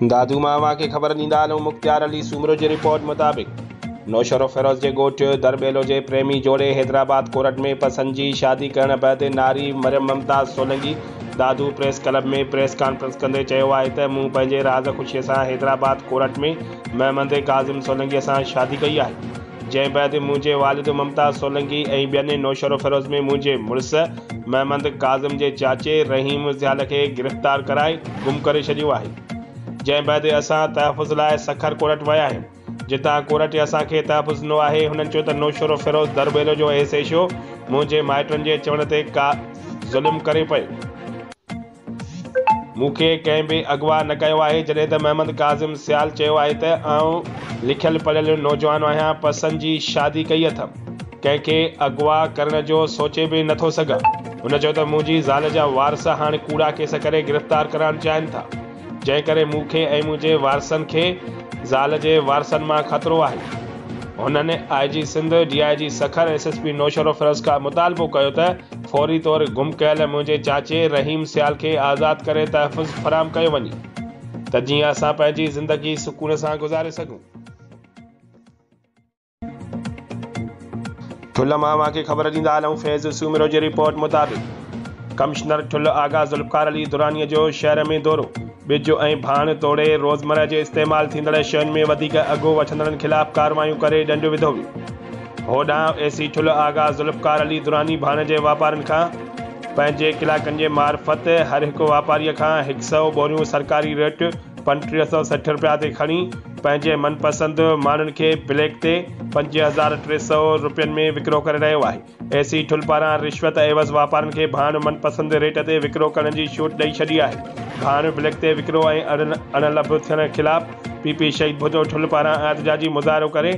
دادو مان اوهان کي خبر ڏيندا هلون مختيار علي سومرو جي رپورٽ مطابق نوشهرو فيروز جي ڳوٺ درٻيلو جي پريمي جوڙي حيدرآباد ڪورٽ ۾ پسند جي شادي ڪرڻ بعد ناري Maryam Mumtaz Solangi Dadu press club ۾ press conference ڪندي چيو آهي ته مون پنهنجي راز خوشي سان حيدرآباد ڪورٽ ۾ محمد ڪاظم سولنگي سان شادي ڪئي آهي جنهن بعد منهنجي والد ممتاز سولنگي ۽ ٻين نوشهرو فيروز ۾ منهنجي مڙس محمد ڪاظم جي چاچي رحيم زيال کي گرفتار ڪرائي گم ڪري ڇڏيو آهي جنهن بعد اسان تحفظ لاء سکر ڪورٽ ويا آهيون جتان ڪورٽ اسان کي تحفظ ڏنو آهي هنن چيو ته نوشهروفيروز درٻيلو جو ايس ايڇ او منهنجي مائٽن جي چوڻ تي ڪا ظلم ڪري پئي مون کي ڪنهن به اغوا نه ڪيو آهي، جڏهن ته محمد ڪاظم سيال چيو آهي ته آئون لکيل پڙهيل نوجوان آهيان، پسند جي شادي ڪئي اٿم، ڪنهن کي اغوا ڪرڻ جو سوچي به نه ٿو سگهان. هن چيو ته منهنجي زال جا وارث هاڻ ڪوڙا ڪيس ڪري گرفتار ڪرائڻ چاهين ٿا، جنهن ڪري مون کي ۽ منهنجي وارثن کي زال جي وارثن مان خطرو آهي. هنن I G Sindh, D I G Sukkur, S S P Naushahro Feroze کان مطالبو ڪيو ته فوري طور گم ڪيل منهنجي چاچي رحيم سيال کي آزاد ڪري تحفظ فراهم ڪيو وڃي ته جيئن اسان پنهنجي زندگي سڪون سان گذاري سگهون. ٺل مان اوهان کي خبر ڏيندا هلون فيض سومرو جي رپورٽ مطابق ڪمشنر ٺل آغا ذوالفقار علي دراني جو شهر ۾ دورو، ٻج ۽ ڀاڻ توڙي روزمره جي استعمال ٿيندڙ شين ۾ وڌيڪ اگهو وٺندڙن خلاف ڪارروايون ڪري ڏنڊ وڌو ويو. هوڏانهن اي سي ٺلهه آغا ذوالفقار علي دراني ڀاڻجي واپارين کان پنهنجي ڪلاڪن جي معرفت هر هڪ واپاريء کان هڪ سئو ٻوريون سرڪاري ريٽ پنٽيهه سئو سٺ رپيا تي کڻي پنهنجي من پسند ماڻهن کي بليڪ تي پنج هزار ٽي سئو رپين ۾ وڪرو ڪري رهيو آهي. اي سي ٺلهه پاران رشوت عيوض واپارين کي ڀاڻ من پسند ريٽ تي وڪرو ڪرڻ جي ڇوٽ ڏئي ڇڏي آهي. ڀاڻ بليڪ تي وڪرو ۽ اڻ لڀ ٿيڻ خلاف پي پي شهيد ڀٽو ٺلهه پاران احتجاجي مظاهرو ڪري،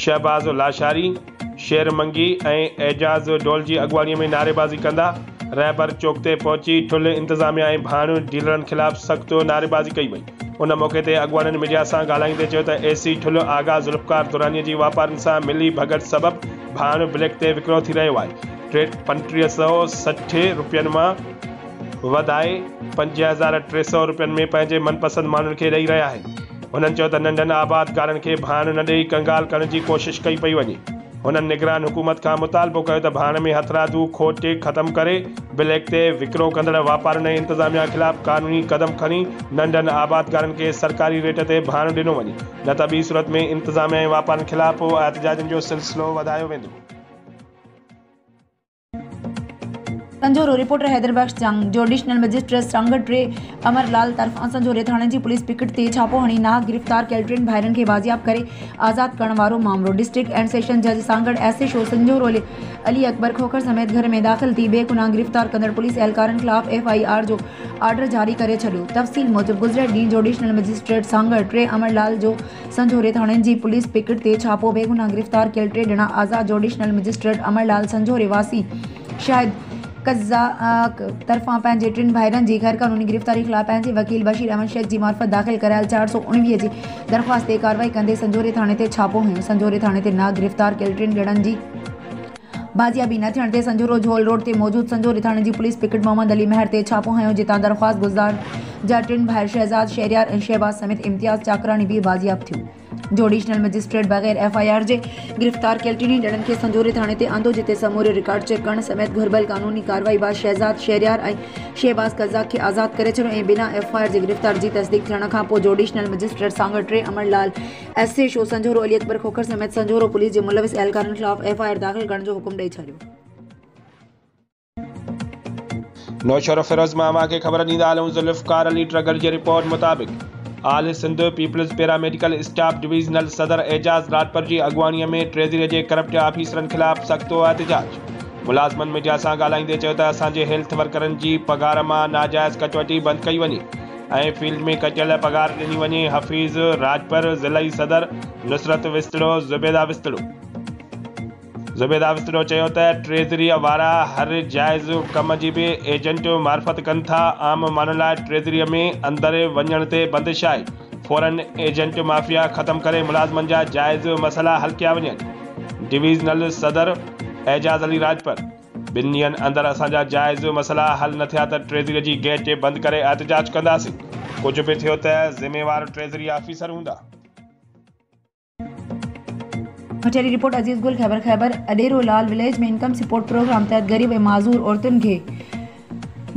شهباز لاشاري، شير منگي ۽ اعجاز ڊول جي اڳواڻي ۾ نعريبازي ڪندا رهبر چوڪ تي پهچي ٺلهه انتظاميا ۽ ڀاڻيون ڊيلرن خلاف سخت نعريبازي ڪئي وئي ان موقعي تي اڳواڻن ميڊيا سان ڳالهائيندي چيو ته اي سي ٺلهه آغا ذوالفقار دراني جي واپارين سان ملي ڀڳت سبب ڀاڻ بليڪ تي وڪرو ٿي رهيو آهي ٽيهه سؤ سٺ روپين مان وڌائي پنج هزار ٽي سؤ روپين ۾ پنهنجي من پسند ماڻهن کي ڏئي رهيا آهن. هنن چيو ته ننڍن آبادگارن کي ڀاڻ نه ڏئي ڪنگال ڪرڻ جي ڪوشش ڪئي پئي وڃي. هنن نگران حڪومت کان مطالبو ڪيو ته ڀاڻ ۾ هٿرادو کوٽ کي ختم ڪري بليڪ تي وڪرو ڪندڙ واپارين ۽ انتظاميا خلاف قانوني قدم کڻي ننڍن آبادگارن کي سرڪاري ريٽ تي ڀاڻ ڏنو وڃي نه ته ٻي صورت ۾ انتظاميا ۽ واپارين خلاف احتجاجن جو سلسلو وڌايو ويندو. سنجهورو، رپورٽر حيدر بخش جنگ، جو ايڊيشنل مئجسٽريٽ سانگهڙ ٽي امر لال طرفان سنجهوري ٿاڻي جي پوليس پڪٽ تي ڇاپو هڻي نااهل گرفتار ڪيل ٽن ڀائرن کي بازياب ڪري آزاد ڪرڻ وارو مامرو ڊسٽرڪٽ اينڊ سيشن جج Sanghar S H O Sanjhoro Ali Akbar Khokhar سميت گهر ۾ داخل ٿي بي گناهه گرفتار ڪندڙ پوليس اهلڪارن خلاف ايف آئي آر جو آرڊر جاري ڪري ڇڏيو تفصيل موجب گذريل ڏينهن جوڊيشنل مئجسٽريٽ سانگهڙ ٽي امر لال جو سنجهوري ٿاڻي جي پوليس پڪٽ تي ڇاپو، بيگناهه گرفتار ڪيل ٽي ڄڻا آزاد، جوڊيشنل مئجسٽريٽ امر لال سنجهوري واسي شاهد قزاق طرفان پنهنجي ٽن ڀائرن جي غيرقانوني گرفتاري خلاف پنهنجي وڪيل بشير احمد شيخ جي معرفت داخل ڪرايل چار سؤ اڻويهه جي درخواست تي ڪارروائي ڪندي سنجهوري ٿاڻي تي ڇاپو هنيو، سنجهوري ٿاڻي تي ناگرفتار ڪيل ٽن ڄڻن جي. بازيابي نه ٿيڻ تي سنجهورو جهول روڊ تي موجود سنجهوري ٿاڻي جي پوليس پڪٽ محمد علي مهر تي ڇاپو هنيو جتان درخواست گذدار جا ٽن ڀائر شهزاد شهريار ۽ شهباز سميت امتياز چاڪراڻي به بازياب ٿيو جوڊيشنل مئجسٽريٽ بغير ايف آء آر جي گرفتار ڪيل ٽنهي ڄڻن کي سنجهوري ٿاڻي تي آندو جتي سموري رڪارڊ چيڪ ڪرڻ سميت گهربل قانوني ڪارروائي بعد شهزاد شهريار ۽ شهباز قزاق کي آزاد ڪري ڇڏيو ۽ بنا ايف آء آر جي گرفتار جي تصديق ٿيڻ کانپوء جوڊيشنل مئجسٽريٽ سانگهڙ ٽي امڙ لال S H O Sanjhoro Ali Akbar Khokhar سميت سنجهورو پوليس جي ملوث اهلڪارن خلاف ايف آء آر داخل ڪرڻ جو حڪم ڏئي ڇڏيو. نوشهروفيروز مان اوهان کي خبر ڏيندا هلون ذوالفقار علي ٽرگهڙ جي رپورٽ مطابق all Sindh peoples paramedical staff divisional صدر اعجاز لاڙپر جي اڳواڻي ۾ ٽريزري جي ڪرپٽ آفيسرن خلاف سخت احتجاج ملازمن ميڊيا سان ڳالهائيندي چيو ته اسان جي هيلٿ ورڪرن جي پگهار مان ناجائز ڪٽوتي بند ڪئي وڃي اي فيلڊ ۾ ڪٽيل پگهار ڏني وڃي حفيظ راڄپر ضلعي صدر نصرت وسطڙو زبيده وسطڙو زبيده وسطڙو چيو ته ٽريزريء وارا هر جائز ڪم جي به ايجنٽ معرفت ڪن ٿا عام ماڻهن لاء ٽريزريء ۾ اندر وڃڻ تي بندش آهي فورن ايجنٽ مافيا ختم ڪري ملازمن جا جائز مسئلا حل ڪيا وڃن ڊويزنل صدر اعجاز علي راڄپر ٻن ڏينهن اندر اسان جا جائز مسئلا حل نه ٿيا ته ٽريزري جي گيٽ جي بند ڪري احتجاج ڪنداسين، ڪجهه به ٿيو ته ذميوار ٽريزري آفيسر هوندا. ڪچهري، report Aziz Gill, Khyber Khyber Adero Lal village ۾ income support programme تحت غريب ۽ معذور عورتن کي.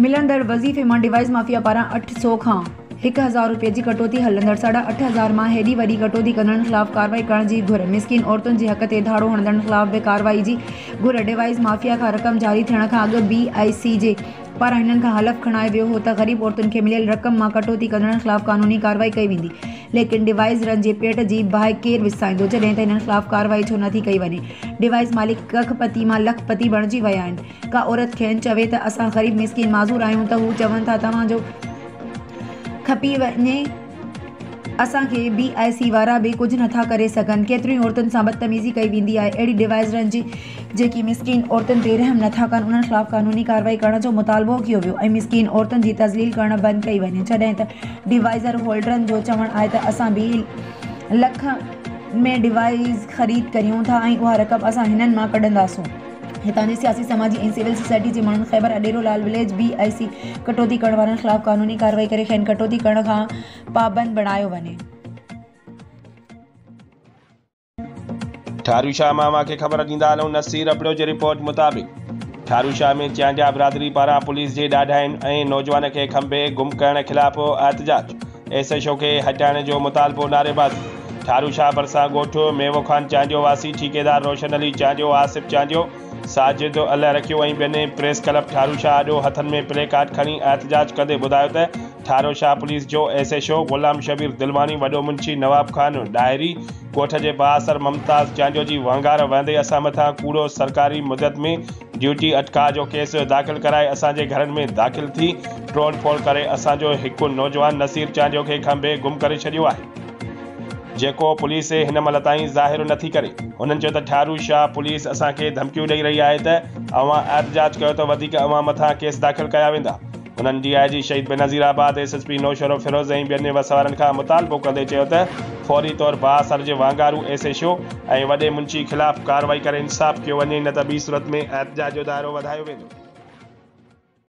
ملندڙ وظيفي مان ڊوائيس مافيا پاران اٺ سؤ کان هڪ هزار روپين جي ڪٽوتي هلندڙ ساڍا اٺ هزار مان هيڏي وڏي ڪٽوتي ڪندڙن خلاف ڪارروائي ڪرڻ جي گهر، مسڪين عورتن جي حق تي ڌاڙو هڻندڙن خلاف به ڪارروائي جي گهر، ڊوائيس مافيا کان رقم جاري ٿيڻ کان اڳ بي آء سي جي پاران هنن کان حلف کڻايو ويو هو ته غريب عورتن کي مليل رقم مان ڪٽوتي ڪندڙن خلاف قانوني ڪارروائي ڪئي ويندي ليڪن ڊوائيسرن جي پيٽ جي باهه ڪير وسائيندو جڏهن ته هنن خلاف ڪارروائي ڇو نٿي ڪئي وڃي ڊوائيس مالڪ ڪک پتي مان لک پتي بڻجي ويا آهن. ڪا عورت کين چوي ته اسان غريب مسڪين معذور آهيون ته هو چون ٿا توهان جو کپي وڃي اسان کي بي آء سي وارا به ڪجهه نٿا ڪري سگهن ڪيتريون ئي عورتن سان بدتميزي ڪئي ويندي آهي اهڙي ڊوائزرن جي جيڪي مسڪين عورتن تي رحم نٿا ڪن انهن خلاف قانوني ڪارروائي ڪرڻ جو مطالبو ڪيو ويو ۽ مسڪين عورتن جي تذليل ڪرڻ بند ڪئي وڃي جڏهن ته ڊوائزر هولڊرن جو چوڻ آهي ته اسان به لک ۾ ڊوائز خريد ڪريون ٿا ۽ اها رقم اسان هنن مان ڪڍنداسون. هتان جي سياسي، سماجي ۽ سول سوسائٽي جي ماڻهن Khyber Adero Lal village B A C ڪٽوتي ڪرڻ وارن خلاف قانوني ڪارروائي ڪري کين ڪٽوتي ڪرڻ کان پابند بڻايو وڃي. ٺارو شاهه مان اوهان کي خبر ڏيندا هلون نصير ابڙو جي رپورٽ مطابق ٺارو شاهه ۾ چيانڊيا برادري پاران پوليس جي ڏاڍاين ۽ نوجوان کي کنڀي گم ڪرڻ خلاف احتجاج ايس ايڇ او کي هٽائڻ جو مطالبو نعريباز ٺارو شاهه ڀرسان ڳوٺ ميوو خان چانڊيو واسي ٺيڪيدار روشن علي چانڊيو آصف چانڊيو ساجد الهه رکيو ۽ ٻين پريس ڪلب ٺارو شاهه آڏو هٿن ۾ پلي ڪارڊ کڻي احتجاج ڪندي ٻڌايو ته ٺارو شاهه پوليس جو S H O Ghulam Shabbir Dilwani وڏو منشي نواب خان ڏاهري ڳوٺ جي بااثر ممتاز چانڊيو جي وهنگار وهندي اسان مٿان ڪوڙو سرڪاري مدد ۾ ڊيوٽي اٽڪاء جو ڪيس داخل ڪرائي اسان جي گهرن ۾ داخل ٿي ٽوڙ ڦوڙ ڪري اسان جو هڪ نوجوان نصير چانڊيو کي کنڀي گم ڪري ڇڏيو آهي جيڪو پوليس هن مهل تائين ظاهر نٿي ڪري هنن چيو ته ٺارو شاهه پوليس اسان کي ڌمڪيون ڏئي رهي آهي ته اوهان احتجاج ڪيو ته وڌيڪ اوهان مٿان ڪيس داخل ڪيا ويندا هنن D I G Shaheed Benazir Abad, S S P Naushahro Feroze ۽ ٻين وس وارن کان مطالبو ڪندي چيو ته فوري طور بااثر جي واڳهارو ايس ايڇ او ۽ وڏي منشي خلاف ڪارروائي ڪري انصاف ڪيو وڃي نه ته ٻي صورت ۾ احتجاج جو دائرو وڌايو ويندو.